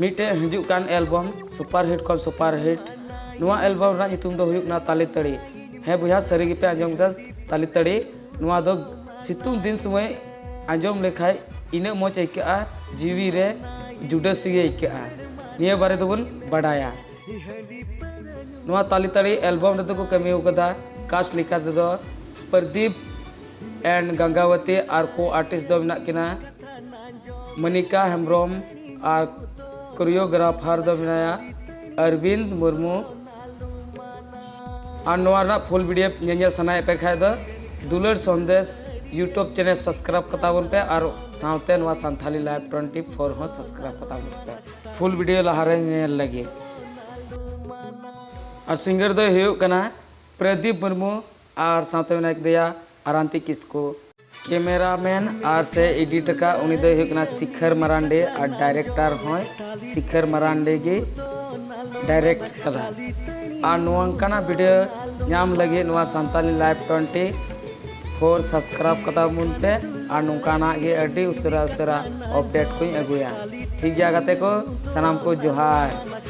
ᱢᱤᱫᱴᱮᱡ ᱦᱤᱡᱩᱜ ᱠᱟᱱ ᱮᱞᱵᱚᱢ ᱥᱩᱯᱟᱨ ᱦᱤᱴ ᱠᱷᱚᱱ ᱥᱩᱯᱟᱨ ᱦᱤᱴ ᱱᱚᱣᱟ ᱮᱞᱵᱚᱢ ᱨᱮᱱᱟᱜ ᱧᱩᱛᱩᱢ ᱫᱚ ᱦᱩᱭᱩᱜ ᱠᱟᱱᱟ ᱛᱟᱞᱮ ᱛᱟᱹᱲᱤ ᱦᱮᱸ ᱵᱚᱭᱦᱟ ᱥᱟᱹᱨᱤ ᱜᱮᱯᱮ ᱟᱸᱡᱚᱢ ᱠᱮᱫᱟ ᱛᱟᱞᱮ ᱛᱟᱹᱲᱤ ᱱᱚᱣᱟ ᱫᱚ ᱥᱤᱛᱩᱝ ᱫᱤᱱ ᱥᱚᱢᱚᱭ ᱟᱸᱡᱚᱢ ᱞᱮᱠᱷᱟᱡ ᱤᱱᱟᱹᱜ ᱢᱚᱡᱽ ᱟᱹᱭᱠᱟᱹᱜᱼᱟ ᱡᱤᱣᱤ ᱨᱮ ᱡᱩᱰᱟᱹᱥᱤ ᱜᱮ ᱟᱹᱭᱠᱟᱹᱜᱼᱟ ᱱᱤᱭᱟᱹ ᱵᱟᱨᱮ ᱫᱚᱵᱚᱱ ᱵᱟᱰᱟᱭᱟ ᱱᱚᱣᱟ ᱛᱟᱞᱮ ᱛᱟᱹᱲᱤ ᱮᱞᱵᱚᱢ ᱨᱮᱫᱚ ᱠᱚ ᱠᱟᱹᱢᱤ ᱟᱠᱟᱫᱟ ᱠᱟᱥᱴ ᱞᱮᱠᱟ ᱛᱮᱫᱚ ᱯᱨᱚᱫᱤᱯ ᱮᱱᱰ ᱜᱟᱝᱜᱟᱣᱟᱛᱤ ᱟᱨ ᱠᱚ ᱟᱨᱴᱤᱥᱴ ᱫᱚ ᱢᱮᱱᱟᱜ ᱠᱤᱱᱟ ᱢᱚᱱᱤᱠᱟ ᱦᱮᱢᱵᱨᱚᱢ ᱟᱨ ᱠᱳᱨᱤᱭᱳᱜᱨᱟᱯᱷᱟᱨ ᱫᱚ ᱢᱮᱱᱟᱭᱟ ᱚᱨᱵᱤᱱᱫ ᱢᱩᱨᱢᱩ ᱟᱨ ᱱᱚᱣᱟ ᱨᱮᱱᱟᱜ ᱯᱷᱩᱞ ᱵᱷᱤᱰᱤᱭᱳ ᱧᱮᱧᱮᱞ ᱥᱟᱱᱟᱭᱮᱫ ᱯᱮ ᱠᱷᱟᱡ ᱫᱚ ᱫᱩᱞᱟᱹᱲ ᱥᱚᱱᱫᱮᱥ ᱤᱭᱩᱴᱩᱵᱽ ᱪᱮᱱᱮᱞ ᱥᱟᱵᱥᱠᱨᱟᱭᱤᱵᱽ ᱠᱟᱛᱟ ᱵᱚᱱ ᱯᱮ ᱟᱨ ᱥᱟᱶᱛᱮ ᱱᱚᱣᱟ ᱥᱟᱱᱛᱷᱟᱞᱤ ᱞᱟᱭᱤᱵᱽ ᱴᱩᱭᱮᱱᱴᱤ ᱯᱷᱳᱨ ᱦᱚᱸ ᱥᱟᱵᱥᱠᱨᱟᱭᱤᱵᱽ ᱠᱟᱛᱟ ᱵᱚᱱ ᱯᱮ ᱯᱷᱩᱞ ᱵᱷᱤᱰᱤᱭᱳ ᱞᱟᱦᱟᱨᱮ ᱧᱮᱞ ᱞᱟᱹᱜᱤᱫ ᱟᱨ ᱥᱤᱝᱜᱟᱨ ᱫᱚᱭ ᱦᱩᱭᱩᱜ ᱠᱟᱱᱟ ᱯᱨᱚᱫᱤᱯ ᱢᱩᱨᱢᱩ ᱟᱨ ᱥᱟᱶᱛᱮ ᱢᱮᱱᱟᱭ ᱠᱮᱫᱮᱭᱟ ᱟᱨᱟᱱᱛᱤ ᱠᱤᱥᱠᱩ᱾ ᱠᱮᱢᱮᱨᱟ ᱢᱮᱱ ᱟᱨ ᱥᱮ ᱮᱰᱤᱴ ᱟᱠᱟᱫ ᱩᱱᱤ ᱫᱚᱭ ᱦᱩᱭᱩᱜ ᱠᱟᱱᱟ ᱥᱤᱠᱷᱟᱹᱨ ᱢᱟᱨᱟᱱᱰᱤ ᱟᱨ ᱰᱟᱭᱨᱮᱠᱴᱟᱨ ᱦᱚᱸᱭ ᱥᱤᱠᱷᱟᱹᱨ ᱢᱟᱨᱟᱱᱰᱤ ᱜᱮᱭ ᱰᱟᱭᱨᱮᱠᱴ ᱟᱠᱟᱫᱟ ᱟᱨ ᱱᱚᱝᱠᱟᱱᱟᱜ ᱵᱷᱤᱰᱤᱭᱳ ᱧᱟᱢ ᱞᱟᱹᱜᱤᱫ ᱱᱚᱣᱟ Santali live twenty four subscribe ᱠᱟᱛᱟ ᱵᱚᱱ ᱯᱮ ᱟᱨ ᱱᱚᱝᱠᱟᱱᱟᱜ ᱜᱮ ᱟᱹᱰᱤ ᱩᱥᱟᱹᱨᱟ ᱩᱥᱟᱹᱨᱟ ᱚᱯᱰᱮᱴ ᱠᱚᱧ ᱟᱹᱜᱩᱭᱟ ᱴᱷᱤᱠ ᱜᱮᱭᱟ ᱜᱟᱛᱮ ᱠᱚ ᱥᱟᱱᱟᱢ ᱠᱚ ᱡᱚᱦᱟᱨ᱾